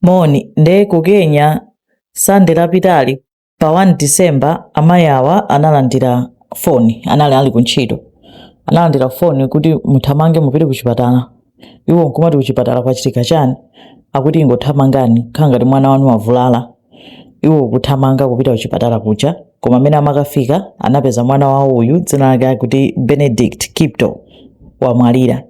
Moni, nde ku Kenya Sunday lapitali pa 1 December amayi awa analandira foni, anali ali ku ntchito, analandira foni kuti muthamange mupite ku chipatala. Iwo nkumati ku chipatala kwachitika chani? Akuti ingothamangani, zikhala ngati mwana wanu wavulala, iwo kuthamanga kupita ku chipatala kuja. koma amene amakafika anapeza mwana wawo uyu dzina lake akuti benedict kipto wamwalira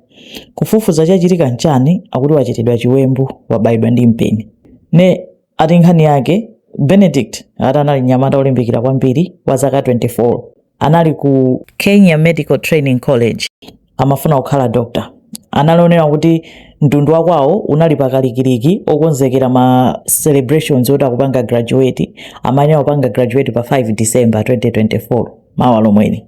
kufufuza chachitika nchani akuti wachitidwa chiwembu wabayidwa ndi mpeni ne ati nkhani yake benedict ati anali mnyamata olimbikira kwambiri wa zaka 24 anali ku kenya medical training college amafuna kukhala dokta anali onena kuti mtundu wakwawo unali pakalikiliki okonzekera ma celebrations oti akupanga graduate amayenera kupanga graduate pa 5 december 2024 mawa lomweli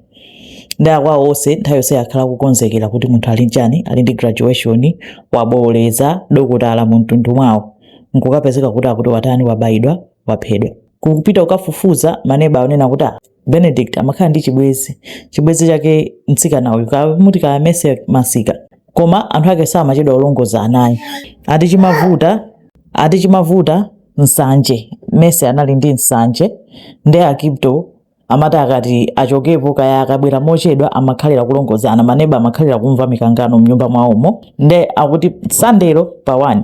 nde akwawo onse nthawi yonse akhala akukonzekera kuti munthu ali ndi chani ali ndi graduation wabooleza dokotala mu mtundu mwawo nkukapezeka kuti akuti watani wabayidwa waphedwa kupita kukafufuza maneba akunena kuti "Ah, benedict amakhala ndi chibwezi chibwezi chake mtsikana uyu akamuti kaya Mercy masika koma anthu ake samachedwa kulongolozana anayi ati chimavuta ati chimavuta nsanje Mercy anali ndi nsanje nde akipto amati akati achokepo kaya akabwera mochedwa amakhalira kulongolozana maneba amakhalira kumva mikangano mnyumba mwawomo nde akuti sandero pa 1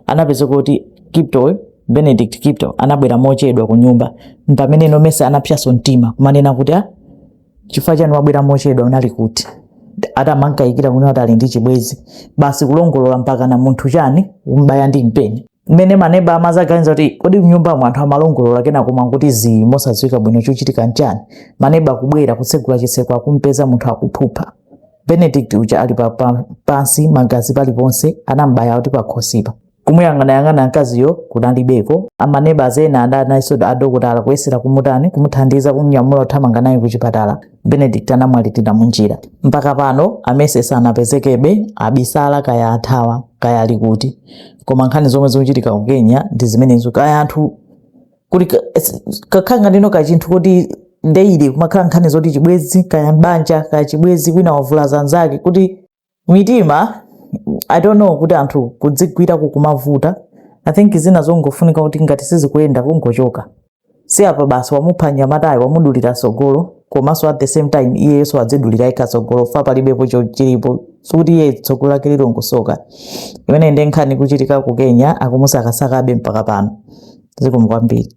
anapeza kuti kiptoyo benedict kipto anabwera mochedwa ku nyumba mpamene nomercy anapsaso mtima kumanena kuti a chifukwa chani wabwera mochedwa unali kuti ati amamukaikira kunena kuti ali ndi chibwezi basi kulongolola mpaka na munthu chani kumbaya ndi mpeni mmene maneba amazaganiza kuti kodi mnyumba mwa anthu amalongolola kenako koma nkuti zii mosadziwika bwino chochitika nchani maneba kubwera kutsegula chitseko akumpeza munthu akuphupha benedict uja ali pa, pa, pansi magazi paliponse anambaya kuti pakhosipa kumuyang'anayang'ana mkaziyo kunalibeko amaneba ena adali nayenso adokotala kuyesera kumutani kumuthandiza kumnyamula kuthamanga naye kuchipatala benedict anamwalilira munjira mpaka pano aMercy sanapezekebe abisala kaya athawa kaya ali kuti koma nkhani zomwe zikuchitika ku kenya ndi zimenezo kaya anthu kuti ka- es- kakhala ngati ino kachinthu kuti daily kumakhala nkhani zoti chibwezi kaya mbanja kaya chibwezi wina wavulaza anzake kuti mitima i don't know kuti anthu kudzigwira kukumavuta i think zina zongofunika kuti ngati sizikuyenda kungochoka si apa basi wamupha nyamatayo wamudulira tsogolo komanso at the same time iyeyenso wadzidulira yekha tsogolo fa palibepo cho- chilipo sikuti iye tsogolo lake lilongosoka imeneyo ndi nkhani ikuchitika ku kenya akumusakasakabe mpaka pano zikomo kwambiri